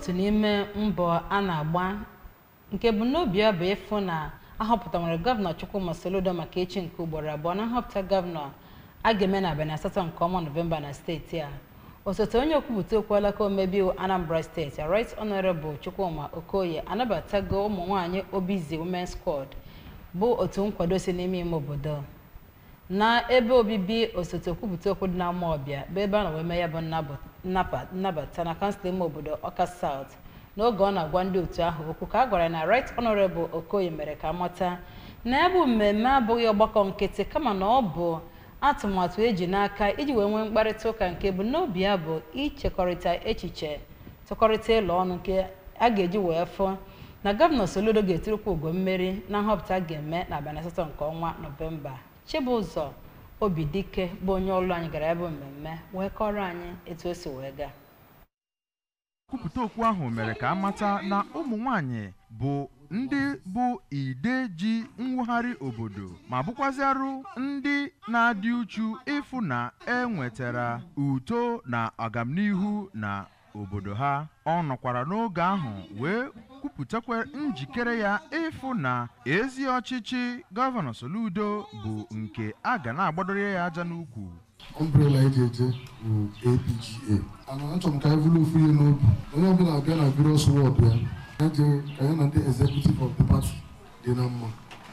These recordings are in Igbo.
otu n'ime mbọ a na-agba nke bụ n'obi ya bụ ịfụ na ahọpụta nwere gọvanọ Chukwuma Soludo maka ịchị nke ugboro abụọ na nhọpụta gọvanọ a ga-eme na abalị asatọ nke ọnwa Nọvemba na steeti a osote onye okwupụta okwu alaka omebe iwu Anambra steeti Right Honorable Chukwuma Okoye anabatago ụmụ nwaanyị Obizi Women's Squad bụ otu nkwado si n'ime ime obodo na ebe obibi osote okwupụta okwu dị na Amawbia bụ ebe a nọ wee mee ya bụ nnabụ- nnaba- nnabata na kansụl ime obodo Ọka South n'oge ọ na-agwa ndị otu ahụ okwu ka a gwara anyị na Right Honourable Okoye mere ka a mata na ya bụ mmemme abụghị ọgbakọ nkịtị kama na ọ bụ atụmatụ e ji n'aka iji wee nwee mkparịta ụka nke bụ n'obi ya bụ ichekọrịta echiche tụkọrịta elo ọnụ nke a ga-eji wee fụ na gọvanọ Soludo ga-eturukwa ugo mmeri na nhọpụta a ga-eme n'abalị asatọ nke ọnwa Nọvemba Chibụzọ Obidike bụ onye ọlụ anyị gara ya bụ mmemme wee kọrọ anyị etu o si wee gaa okwupụta okwu ahụ mere ka a mata na ụmụ nwanyị bụ ndị bụ ide ji mwugharị obodo ma bụkwazịarụ ndị na-adị uchu ịfụ na e nwetara uto na agamnihu na obodo ha ọ nọkwara n'oge ahụ wee kwupụtakwa njikere ya ịfụ na ezi ọchịchị gọvanọ Soludo bụ nke a ga na-agbadoro ya aja n'ukwu ọmbrela e ji eje bụ APGA ana achọrọ m ka anyị bụrụ ofu ihe n'obi onye ọbụla abịa na various ward ya ya jee ka ya na ndị executive of the party dị na mma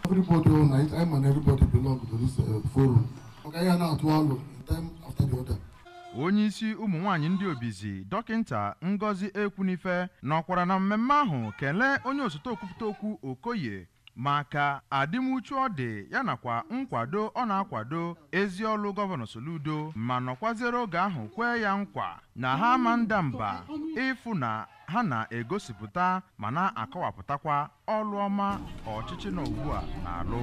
everybody all night anyị ma na everybody belong to this eh, forum maka ya na-atụ alo time after the other onye isi ụmụ nwaanyị ndị obizi dọkịnta ngozi ekwunife nọkwara na mmemme ahụ kelee onye osote okwupụta okwu okoye maka adịmuchu ọ dị ya nakwa nkwado ọ na-akwado ezi ọlụ Gọvanọ Soludo ma nọkwaziere oge ahụ kwee ya nkwa na ha ama nda mba ịfụ na ha na-egosipụta ma na-akọwapụtakwa ọlụ ọma ọchịchị nọ ugbua na-alụ.